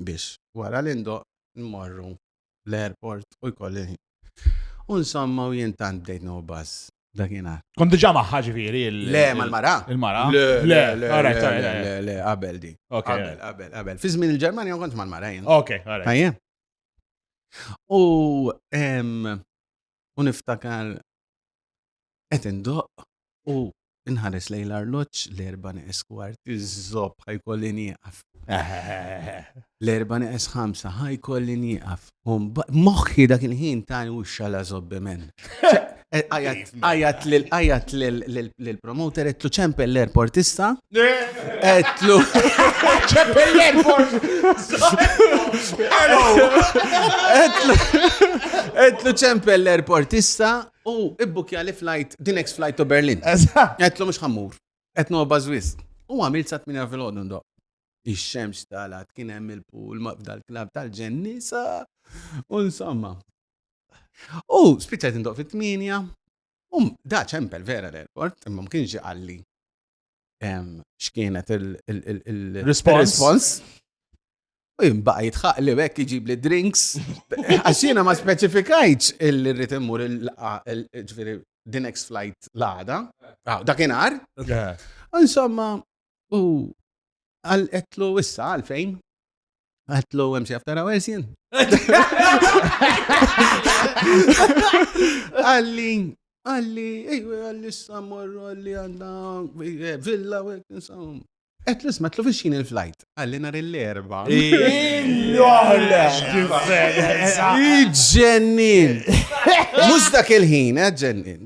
biex wara li ndoqq immorru l-airport u jkolli U insomma u jien tant bdejt no buzz dakinhar. Kont diġà magħha ġifieri il Le, mal-mara? Il-mara. Le, le, le, le, qabel di. Qabel, qabel, qabel. Fi żmien il-Ġermanja ma kontx mal-mara jien. Ok, għalhekk. U u niftakar Qed indoqq u nħares lejn l-arloġġ l-erba' neqes kwart. Iż-żopp ħajkolli nieqaf. L-erba' neqes ħamsa ħajkolli nieqaf. Moħħi dak il-ħin ta' u xala żobbi men. Għajat l-promoter etlu ċempel l-airport issa. Etlu. ċempel l-airport. Etlu ċempel l-airport issa U ibbukkjali flight, the next flight to Berlin. Eżatt. Għedtlu mhux ħa mmur. Qed nogħbas wisq. U għamilt sa tmienja filgħodu ndoqq. Ix-xemx talgħet, kien hemm il-pool ma' f'dal-klabb tal-ġenn nisa u insomma. U spiċċajt indoqq fit-tmienja. U da ċempel vera l-airport, imma ma kienx ġie qalli. x'kienet il-response. U jimbaqa jitħaq li bekk iġib li drinks. Għaxina ma speċifikajċ il-rrit immur il-ġviri the next flight l-għada. Ah, dakinar. Insomma, u għal-etlu issa għalfejn. Għatlu għemxie after hours jen. Għalli, għalli, ejwe għalli s-samur, għalli għanna eh, villa, għalli Et l ma tlu viċin il-flajt, għalli nar l-erba. Iġġennin! Mux dak il-ħin, eh, ġennin.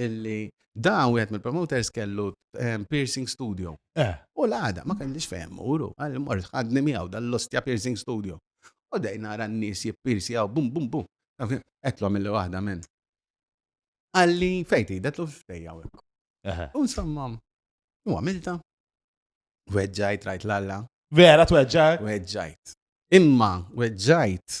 illi da wieħed mill-promoters kellu ehm, piercing studio. Eh. U l-għada ma kellix fehem muru, għal mort ħadni miegħu dall-ostja piercing studio. U dej nara n-nies jippirsjaw għaw bum bum bum. Etlu mill waħda minn. Għalli fejti, detlu xtejja u. U insomma, u għamilta. Weġġajt, rajt l-alla. Vera, tweġġajt? Weġġajt. Imma, weġġajt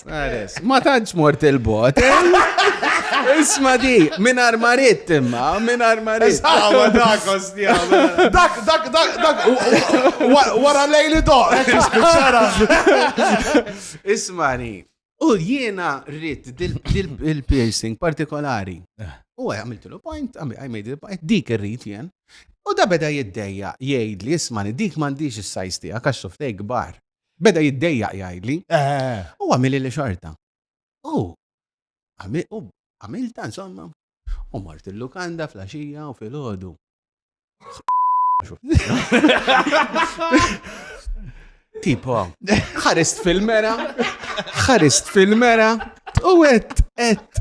Ares, ma tantx mort il-bot. Isma di, minn armarit imma, minn armarit. Isma dak ostja. Dak, dak, dak, dak, wara lejli doq, spiċċara. Isma di, u jiena rrit dil-piercing partikolari. Eh. U għaj għamiltu l-point, għaj made the point, dik rrit jien. U da beda jiddejja, jgħid li jismani, dik mandiġ il-sajs tijak, għax suftej gbar. Beda jiddejjaq jgħidli. U għamili li xorta. U għamilta insomma. U mort il-lukanda fl-axija u fil-ħodu. Tipo, ħarist fil-mera, ħarist fil-mera, u għet, għet.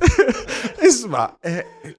Isma, eh,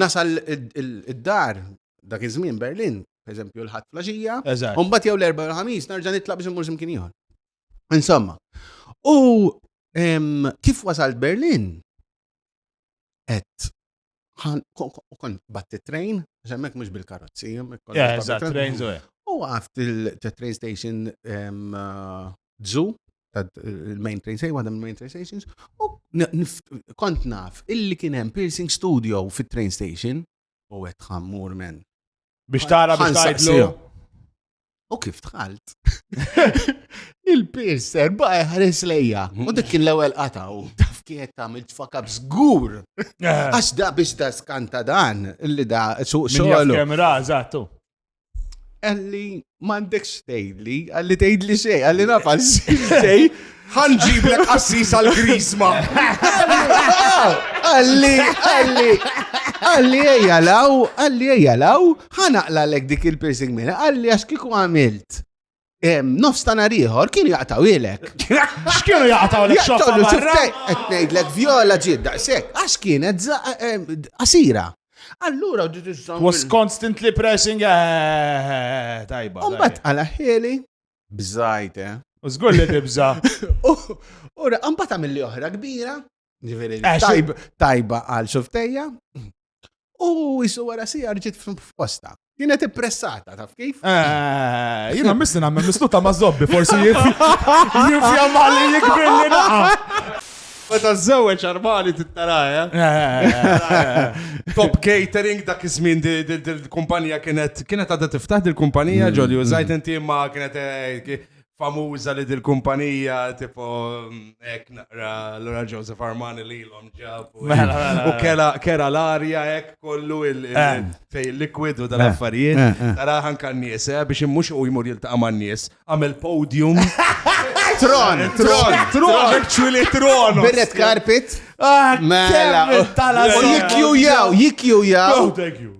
Nasal id-dar dak iż-żmien Berlin, eżempju l-ħadd flaxija, u mbagħad jew l-erba' u l-ħamis narġa' nitlaq biex immur x'imkien ieħor. Insomma, u kif wasalt Berlin? Et kont batti train, xemmek mux bil-karozzi. Train, U għaft il-train station uh, Zoo, il-main train station, waħda mill-main train stations, u kont naf illi kien hemm piercing studio fit-train station u qed ħammur men. Biex tara biex tgħidlu. U kif tħalt? Il-piercer baqa ħares lejja. U dik kien l-ewwel qataw. Taf kienet tagħmel tfakab żgur. Eh. Għax da biex da skanta dan illi da suq xogħol. Kemm ra, eżattu. Għalli, mandek stejli, għalli tgħidli xej, għalli nafa xej. Ħanġiblek assis għal grisma. Għalli, għalli, għalli ejjalaw, għalli ejjalaw, ħanaqla lek dik il-piercing minna, għalli għax kiku għamilt. Nofs ta' nar ieħor kienu jaqtaw ilek. X'kienu jaqtaw ilek xoffa barra? Qed ngħidlek vjola ġiet daqshekk għax kienet qasira. Allura was constantly pressing eh, eh, eh, tajba. Mbagħad għala ħieli bżajt eh. U żgur li tibża. U mbagħad għamilli oħra kbira Ġifieri eh, tajba għal xuftejja u jisu wara si ġiet f'posta. Jina ti pressata, taf kif? Eh, jina misli nammen misluta ma' zobbi, forsi jinfja mali jikbir li naqa. Meta żewġ armali tittaraja. Eh? Eh, eh, Top catering dak iż-żmien dil-kumpanija kienet kienet għadha tiftaħ dil-kumpanija mm, ġoli mm. użajt inti ma kienet famuża li dil-kumpanija tipo hekk naqra Lora Joseph Armani li l-om ġab u mela, mela, mela. kera l-arja hekk kollu eh. fej liquid u dal-affarijiet. Eh, eh, Taraħan kan nies biex immux u jmur jiltaqa' man nies għamel podium. Tron, tron, tron, actually tron. Birret carpet. Ah, mela. Tala. Jikju jaw, jikju jaw. Oh, thank you.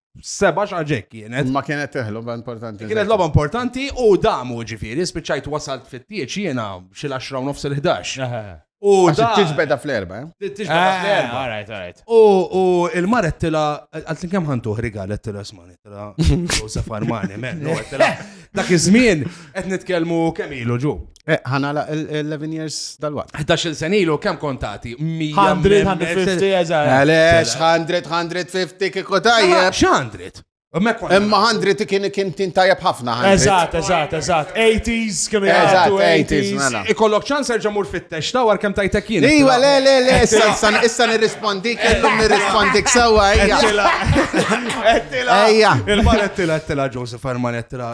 seba xaġek kienet. Ma kienet teħlu importanti. Kienet loba importanti u damu ġifiri, spiċajt wasalt fit-tieċ jena xil 10 nofs il-11. U tiġbeda fl-erba, eh? Tiġbeda ah, fl-erba. All right, all right. U il-maret tila, għaltin kem ħantuħ rigal, tila smani, tila, u safarmani, men, tila. Dak iż-żmien, qed nitkellmu kemm ilu ġu. Eh, ħanala l-11 years dal-waqt. 11 sen ilu, kem kontati? 150, eżar. Għalex, 100, 150 kiko tajjeb. Xandrit? Imma 100 kien kien tin tajjeb ħafna. Eżat, eżat, eżat. 80s, kien eżat, 80s. Mela. Ikollok ċans erġa' mur fit-tex ta' war kem tajtek jien. Iwa, le, le, le, issa nirrispondi, kellum nirrispondi ksawa, ejja. Ejja. Il-mar ettila, ettila, Joseph Arman, ettila,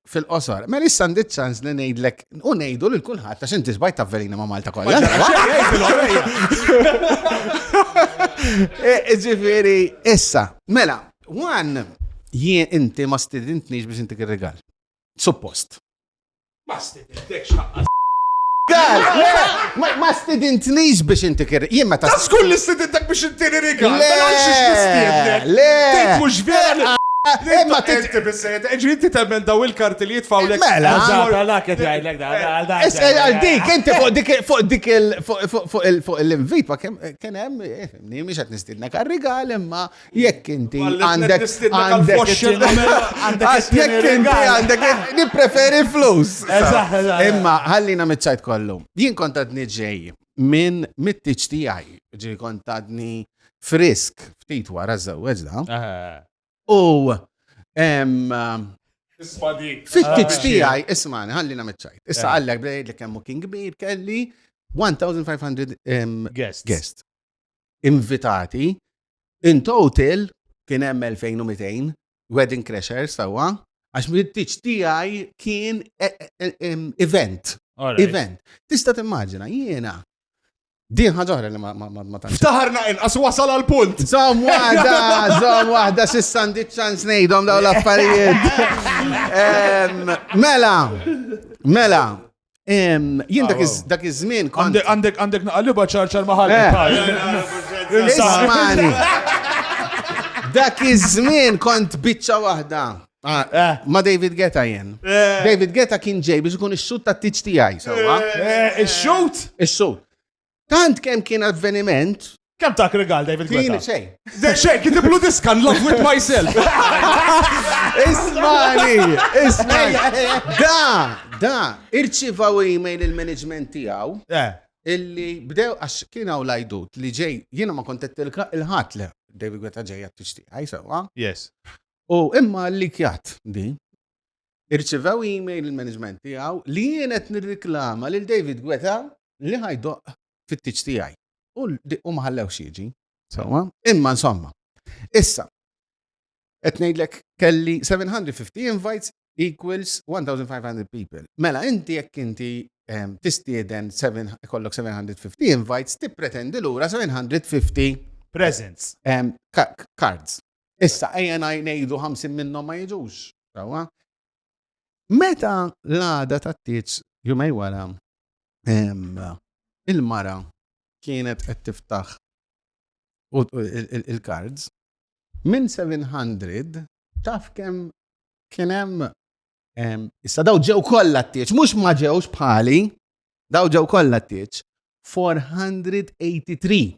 Fil-qosor. Mela issa għandi ċans li ngħidlek u ngħidu lil kulħadd għax inti sbajt tavverina ma' Malta kollha. Eh, ġifieri, issa, mela, wan jien inti ma stidintniex biex intik ir-rigal. Suppost. Ma stidintniex. Ma stidintnix biex inti kir. Jien meta. Ta' skull li stidintek biex inti rigal. Le! Mela xiex nistiednek. Le! Tgħid mhux vera. Imma tinti bissejt, ġri inti temmen daw il-karti li jitfaw l Mela, għala kif jgħidlek da, għal da. Għal dik, inti fuq dik fuq dik fuq l-invit, ma kien hemm, mhix qed nistidnek għal-rigal, imma Jekk inti għandek għandek jekk inti għandek nippreferi flus. Imma ħallina miċċajt kollu. Jien kont għadni ġej minn mit-tiġ tiegħi, ġi kont għadni frisk ftit wara żewweġ da. U fit-tiġ tiegħi ismani ħallina miċċajt. Issa għallek bdejt li kemm kien kbir kelli 1500 guests. Invitati In total, kien hemm 2200 wedding crashers sewwa, għax mit-tiċ tiegħi kien e- e- e- em, event. Alright. Event. Tista' timmaġina, jiena. Din ħaġa oħra li ma ma- ma- ma tantx. Taħarna inqas wasal għal punt. Zom wahda, zom wahda, sissa għandi ċans nejdom daw l-affarijiet. Em, Mela, mela, Jien dak iż-żmien kont. Għandek għandek naqalliba ċarċar maħal. Ismani. Dak iż-żmien kont biċċa waħda. Ah, eh. Ma David Geta jen. Eh. David Geta kien ġej biex ikun ix-xut ta' tiċ tiegħi, sewwa. Eh, ix-xut? Ix-xut. Tant kemm kien avveniment. Kemm tak rigal David Gweta? Kien xejn. Xejn, kien tiblu diska love with myself. Ismani, ismani. Da, da, irċivaw email il-management tiegħu. Eh. Illi bdew għax kien hawn lajdut li ġej jiena ma kontet il-ħadd le David Gweta ġejja tixtieq, għajsa, Yes. U imma li kjat di, irċivew email il-management tiegħu li jien qed nirriklama lil David Guetta li ħajdoqq fit-tieġ tiegħi. U ma ħallewx jiġi. Sewwa? Imma insomma. Issa, qed ngħidlek kelli 750 invites equals 1500 people. Mela inti jekk inti ehm, tistieden kollok 750 invites, tippretendi lura 750 presents, ehm, cards. Issa, ejja ngħidu 50 minnhom ma jiġux, sewwa? Meta l-għada tat-tieġ jumej wara, il-mara kienet qed tiftaħ il-kards, minn 700 taf kemm kien hemm issa daw ġew kollha t-tieġ, mhux ma ġewx bħali, daw ġew kollha t-tieġ, 483.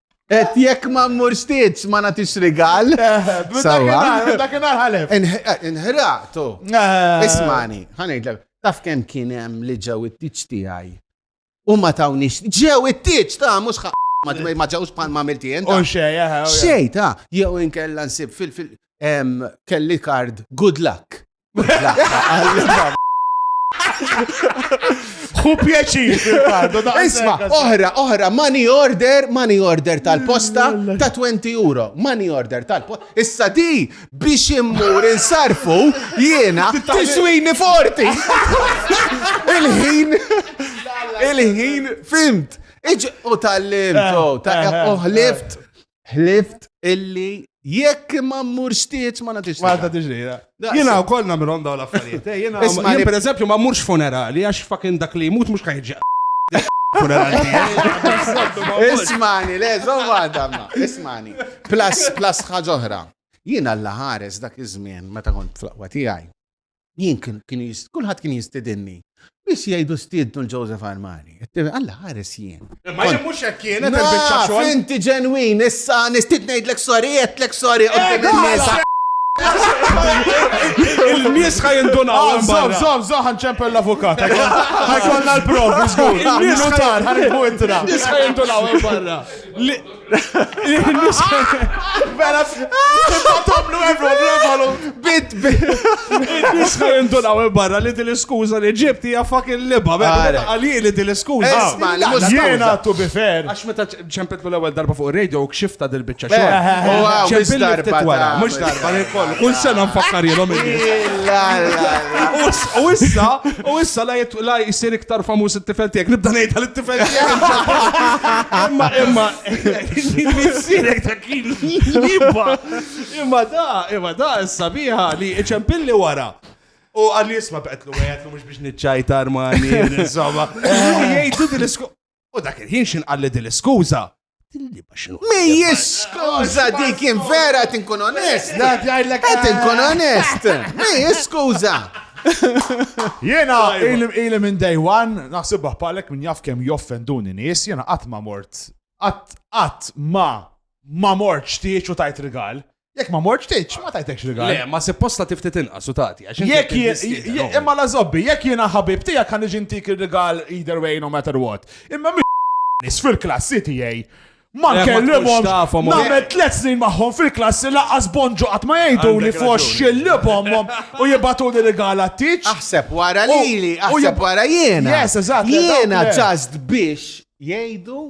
Et jekk ma mmurx titx ma nagħtix rigal. Sawa. Dakinhar ħalef. Inħraqtu. Eh. Ismani, ħanejdlek, taf kemm kien hemm li ġew it-titx tiegħi. U ma tawnix, ġew it-titx ta' mhux ma ġewx bħal ma milti jent. U xej, eh, eh, Xej ta' jew inkella nsib fil-fil kelli kard good luck. Hu pjaċir fil-fardu. Isma, oħra, oħra, money order, money order tal-posta ta' 20 euro. Money order tal-posta. Issa di biex immur insarfu jiena tiswini forti. Il-ħin, il-ħin, fimt. Iġ u tal-lim, eh, eh, eh, u ħlift. Ħlift illi jekk ma mmurx tieċ ma nagħtix. Ma nagħtix lejla. Jiena wkoll nagħmilhom dawn l-affarijiet. Eh, jiena jien pereżempju ma mmurx funerali għax fakin dak li jmut mhux ħajġi. Funerali. Ismani, le, żomma damma. Ismani. Plus, plus ħaġa oħra. Jiena l-ħares dak iż-żmien meta kont fl-aqwa tiegħi. Jien kien, kien jist, kulħadd kien jistidinni. Biss jgħidu stiednu l-Joseph Armani. Alla ħares jien. Imma jien mhux hekk kienet il-biċċa xogħol. Naf, inti ġenwin, issa nistid ngħidlek sorry, għedtlek sorry, qudiem in-nies. Il-nies ħaj indunaw. Zom, zom, zom, ħanċempel l-avukat. Ħajkolna l-provi, zgur. Il-notar, ħanibbu intra. Il-nies ħaj indunaw barra. Bella, tibbatamlu everyone, rafalu. Bit, bit. Nisku jindunaw barra li din l-iskuza li ġibt hija fucking liba. Bella, għalli li din l-iskuza. Jena tu bifer. Għax meta ċempetlu l-ewel darba fuq radio u kxifta dil-bicċa xo. Ċempillu ftit wara, mux darba li kollu. Kull sena nfakkar jilom il U issa, u issa la La jsir iktar famuż it-tifel tiegħek. Nibda ngħidha lit-tifel tiegħek. Imma imma missierek ta' kien jibba. Imma da, imma da s-sabiħa li iċempilli wara. U għalli jisma baqetlu għajatlu mux biex nitċajtar ma' insomma. Jgħidu dil-isku. U dak il-ħin xin qalli din l-iskuża. Mhijiex skuża dik jien vera qed inkun onest. Qed inkun onest. Mhijiex skuża. Jena ili minn day one, naħsibha bħalek minn jaf kemm joffenduni nies, jena qatt ma mort, qatt qatt ma ma mort xtiex u tajt rigal. Jekk ma morċ tiċ, ma tajtekx rigal. Le, ma supposta tiftit inqas u tagħti. Jekk imma la zobbi, jekk jiena ħabib tiegħek kan iġi ntik ir-rigal either way no matter what. Imma nis fil-klassi tiegħi. Ma nkellimhom nagħmel tliet snin magħhom fil-klassi laqas bonġu qatt ma jgħidu li fost xillibhom u jibatu li rigal tiċ. Aħseb wara lili, aħseb wara jiena. Yes, eżatt. Jiena ċast biex jgħidu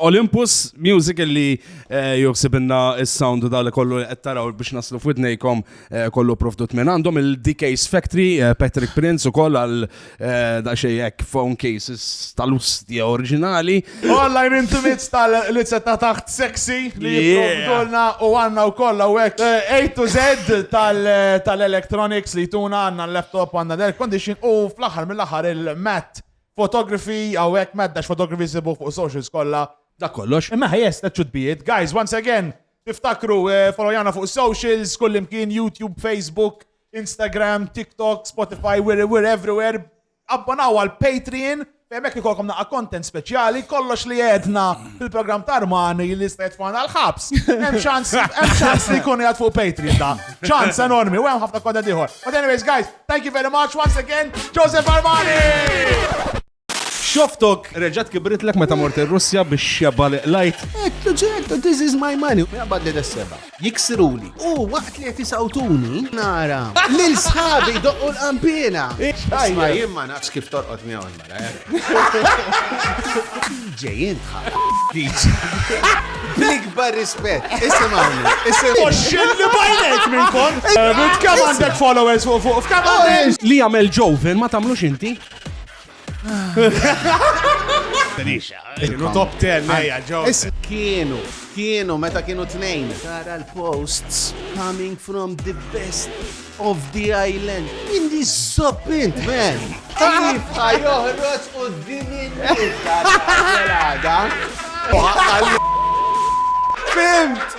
Olympus Music li eh, joħsib inna s-sound dal kollu qed taraw biex naslu f'widnejkom eh, kollu provdut minn għandhom il-DK's Factory eh, Patrick Prince ukoll għal daqsxejn hekk phone cases tal-ustja oriġinali. Online intimates tal-lizza ta' taħt sexy li jipprovdulna u għandna wkoll hawnhekk A to Z tal-electronics li tuna għandna l-laptop għandna l-air condition u fl-aħħar mill-aħħar il-mat Photography, hawnhekk mad dax photography sibuh fuq is-socials kollha. Dak kollox. Imma ħajess ta' ċutbijiet. Guys, once again, tiftakru, followjana fuq is-socials, kullimkien, YouTube, Facebook, Instagram, TikTok, Spotify, we're, we're everywhere. Abbonaw għal Patreon, fejn hekk ikolkom naqa' content speċjali, kollox li għedna fil-programm ta' Armani li jista' jitfana l-ħabs. Hemm ċans, hemm ċans li jkun jgħad fuq Patreon da. Ċans enormi, u hemm ħafna content ieħor. But anyways, guys, Thank you very much once again, Joseph Armani! Xoftok reġat kibritlek meta mort ir-Russja biex xeba li qlajt. Ektu ġertu, this is my money. Jabad li d-seba. Jiksiruli. U waqt li jeti sawtuni, nara. Lil sħabi doqqu l-qampina. Isma jimma naqs kif torqot miegħu. Ġejjin Bl-ikbar rispett, isimgħuni, isimgħuni. Oxxilli bajnek minn kon. Kemm għandek followers fuq fuq f'kemm għandek? Li jagħmel ġoven ma tagħmlux inti. Kienu top 10 lejja ġoven. Is- Kienu, kienu, meta kienu tnejn. Tara l-posts coming from the best of the island. Jien li zopp int, man! Kif ħa joħroġ u d-dini Fimt!